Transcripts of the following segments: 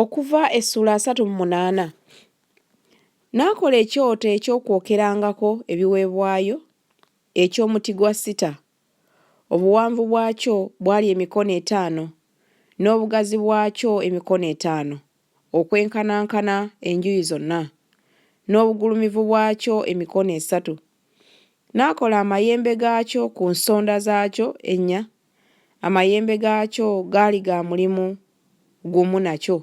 Okuva essula asatu mu munaana. N'akola ekyoto eky'okwokerangako ebiweebwayo eky'omuti gwa sita, obuwanvu bwakyo bwali emikono etaano, n'obugazi bwakyo emikono etaano, okwenkanankana enjuyi zonna, n'obugulumivu bwakyo emikono esatu, N'akola amayembe gaakyo ku nsonda zaakyo ennya, amayembe gaakyo gaali ga mulimu gumu nakyo,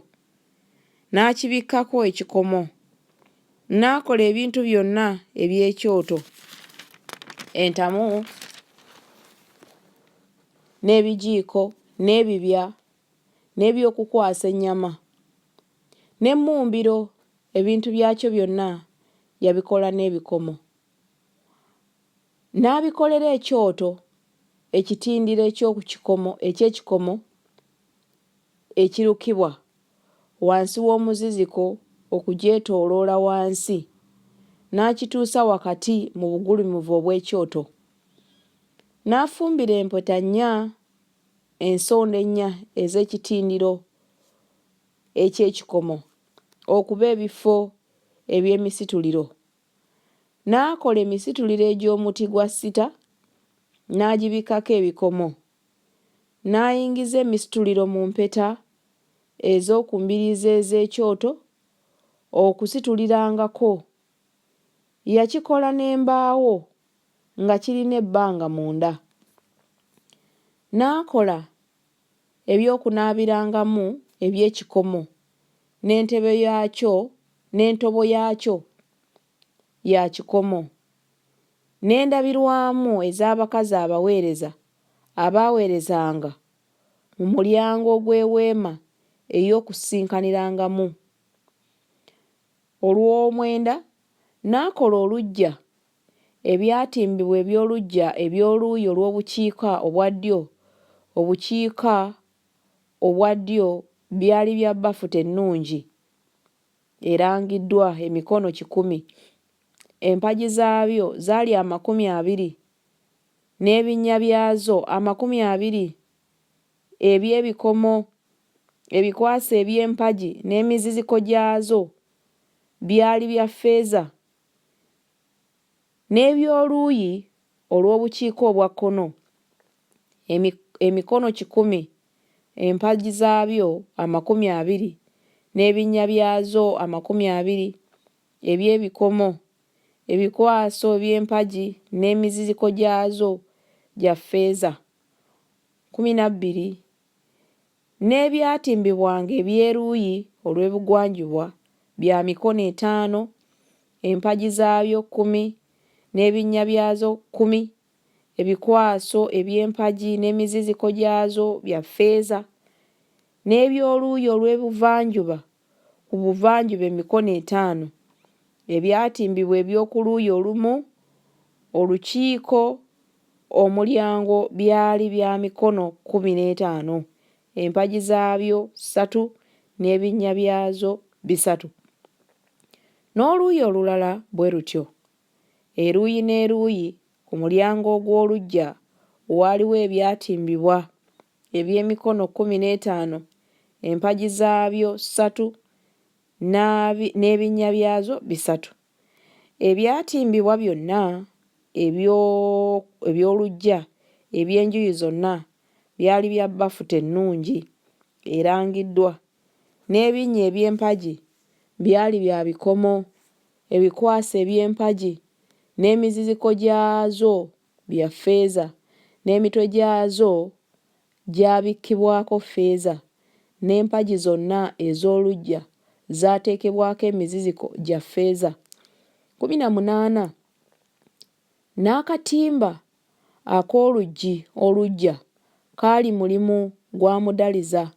n'akibikkako ekikomo. N'akola ebintu byonna eby'ekyoto, entamu, n'ebijiiko, n'ebibya. n'eby'okukwasa ennyama, n'emmumbiro ebintu byakyo byonna yabikola n'ebikomo. N'abikolera ekyoto, ekitindiro eky'oku kikomo eky'ekikomo ekirukibwa, wansi w'omuziziko okugyetooloola wansi, n'akituusa wakati mu bugulumivu obw'ekyoto. N'afumbira empeta nnya. ensonda ennya ez'ekitindiro eky'ekikomo okuba ebifo eby'emisituliro, n'akola emisituliro egy'omuti gwa sita n'agibikkako ebikomo, n'ayingiza emisituliro mu mpeta ez'oku mbiriizi ez'ekyoto okusitulirangako. Yakikola n'embaawo. nga kirina ebbanga munda. N'akola eby'okunaabirangamu eby'ekikomo, n'entebe yaakyo, n'entobo yaakyo ya kikomo, n'endabirwamu ez'abakazi abaweereza abaaweerezanga mu mulyango ogw'Eweema ey'Okusisinkaniragamu. Olw'omwenda n'akola oluggya ebyatimbibwa eby'oluggya eby'oluuyi olw'obukiika obwa ddyo obukiika obwa ddyo byali bya bafuta ennungi erangiddwa, emikono kikumi. Empagi zaabyo zaali amakumi abiri, n'ebinnya byazo amakumi abiri eby'ebikomo, ebikwasi eby'empagi n'emiziziko gyazo byali bya ffeeza N'eby'oluuyi olw'obukiika obwa kkono, emi, emikono kikumi, empagi zaabyo amakumi abiri, n'ebinnya byazo amakumi abiri eby'ebikomo, ebikwaso eby'empagi n'emiziziko gyazo gya ffeeza kkumi na bbiri, N'ebyatimbibwanga eby'eruuyi olw'ebugwanjuba bya mikono etaano, empagi zaabyo kkumi, n'ebinnya byazo kkumi, ebikwaso eby'empagi n'emiziziko gyazo bya ffeeza, n'eby'oluuyi olw'ebuvanjuba ku buvanjuba emikono etaano ebyatimbibwa eby'oku luuyi olumu, olukiiko, omulyango byali bya mikono kkumi n'etaano, empagi zaabyo ssatu n'ebinnya byazo bisatu, n'oluuyi olulala bwe lutyo. Eruuyi n'eruuyi ku mulyango ogw'oluggya waaliwo ebyatimbibwa. eby'emikono kkumi n'etaano, empagi zaabyo ssatu n'ebinnya byazo bisatu. Ebyatimbibwa byonna eby'oluggya eby'enjuyi zonna byali bya bafuta ennungi erangiddwa, n'ebinnya eby'empagi byali bya bikomo, ebikwaso eby'empagi n'emiziziko gyazo bya ffeeza, n'emitwe gyazo gyabikkibwako ffeeza, n'empagi zonna ez'oluggya zaateekebwako emiziziko gya ffeeza kkumi na munaana, n'akatimba ak'oluggi oluggya kaali mulimu gwa mudaliza,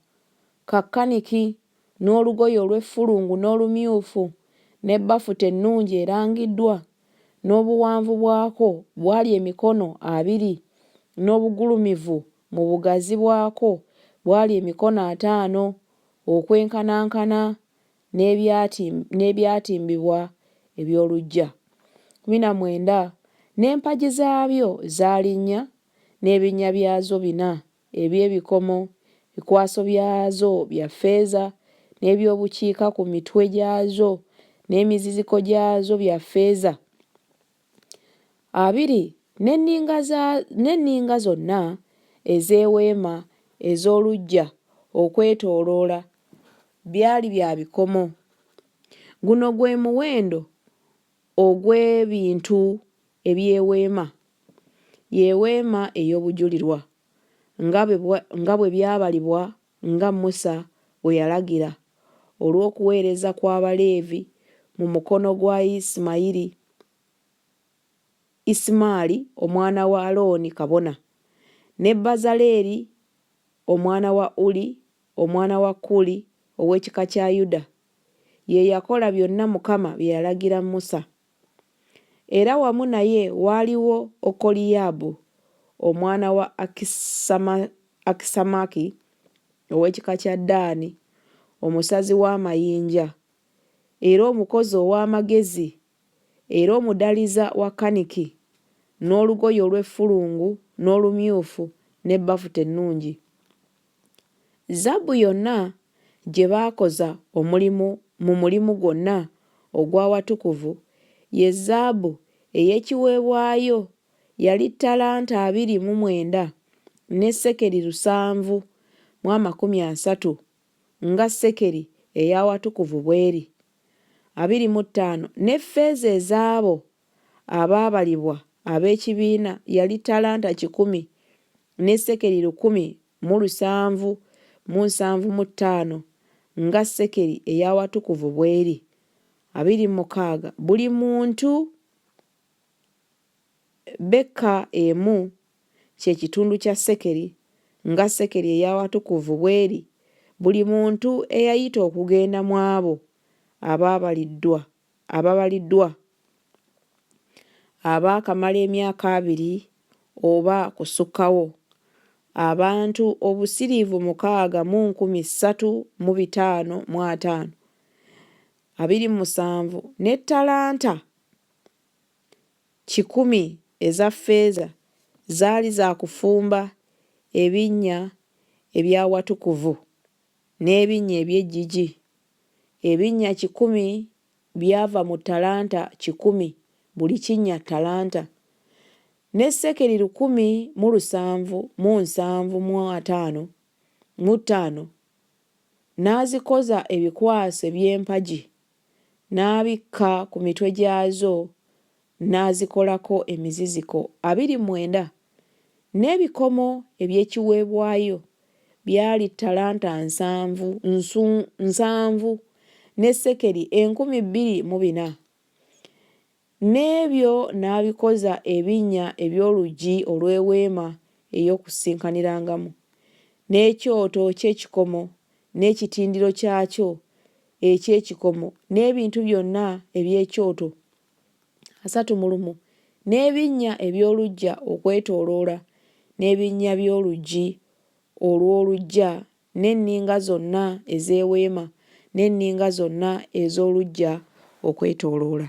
ka kaniki n'olugoye olw'effulungu n'olumyufu, ne bafuta ennungi erangiddwa, n'obuwanvu bwako bwali emikono abiri, n'obugulumivu mu bugazi bwako bwali emikono ataano, okwenkanankana n'ebyatimbibwa eby'oluggya kkumi na mwenda, n'empagi zaabyo zaali nnya, n'ebinnya byazo bina. eby'ebikomo, ebikwaso byazo bya ffeeza, n'eby'obukiika ku mitwe gyazo, n'emiziziko gyazo bya ffeeza abiri, n'enninga za, n'enninga zonna ez'eweema ez'oluggya okwetooloola byali bya bikomo. Guno gwe muwendo ogw'ebintu eby'eweema, y'eweema ey'obujulirwa, nga bwe, nga bwe byabalibwa nga Musa bwe yalagira, olw'okuweereza kw'Abaleevi mu mukono gwa Isimayiri, Isimaali omwana wa Alooni kabona, ne Bazaleeri omwana wa Uli omwana wa Kuuli ow'ekika kya Yuda, Ye yakola byonna Mukama bye yalagira Musa. Era wamu naye waaliwo Okoliyaabu omwana wa Akisamaki ow'ekika kya Daani, omusazi w'amayinja, era omukozi ow'amagezi, era omudaliza wa kaniki, n'olugoye olw'effulungu n'olumyufu, ne bafuta ennungi. Zaabu yonna gye baakoza omulimu mu mulimu gwonna ogw'Awatukuvu ye zaabu ey'ekiweebwayo yali ttalanta abiri mu mwenda ne sekeri lusanvu mu amakumi asatu, nga sekeri ey'Awatukuvu bw'eri, abiri mu ttaano, ne ffeeza ez'abo abaabalibwa ab'ekibiina yali talanta kikumi ne sekeli lukumi mu lusanvu mu nsanvu mu ttaano, nga sekeli ey'awatukuvu bw'eri. Abiri mu mukaaga buli muntu beka emu kye kitundu kya sekeli, nga sekeli ey'awatukuvu bw'eri, buli muntu eyayita okugenda mw'abo abaabaliddwa ababaliddwa abaakamala emyaka abiri oba kusukkawo, abantu obusiriivu mukaaga mu nkumi ssatu mu bitaano mu ataano, abiri mu musanvu, ne ttalanta kikumi eza ffeeza zaali za kufumba ebinnya eby'awatukuvu. N'ebinnya eby'eggigi ebinnya kikumi byava mu ttalanta kikumi, buli kinnya ttalanta, ne sekeli lukumi mu lusanvu mu nsanvu mu ataano mu ttaano, n'azikoza ebikwasi eby'empagi n'abikka ku mitwe gyazo n'azikolako emiziziko abiri mwenda, n'ebikomo eby'ekiweebwayo byali ttalanta nsanvu nsu nsanvu ne sekeli enkumi bbiri mu bina. N'ebyo n'abikoza ebinnya eby'oluggi olw'eweema ey'okusisikanirangamu, n'ekyoto ky'ekikomo n'ekitindiro kyakyo eky'ekikomo, n'ebintu byonna eby'ekyoto, asatu mu lumu, n'ebinnya eby'oluggya okwetooloola, n'ebinnya by'oluggi olw'oluggya, n'enninga zonna ez'eweema, n'enninga zonna ez'oluggya okwetooloola.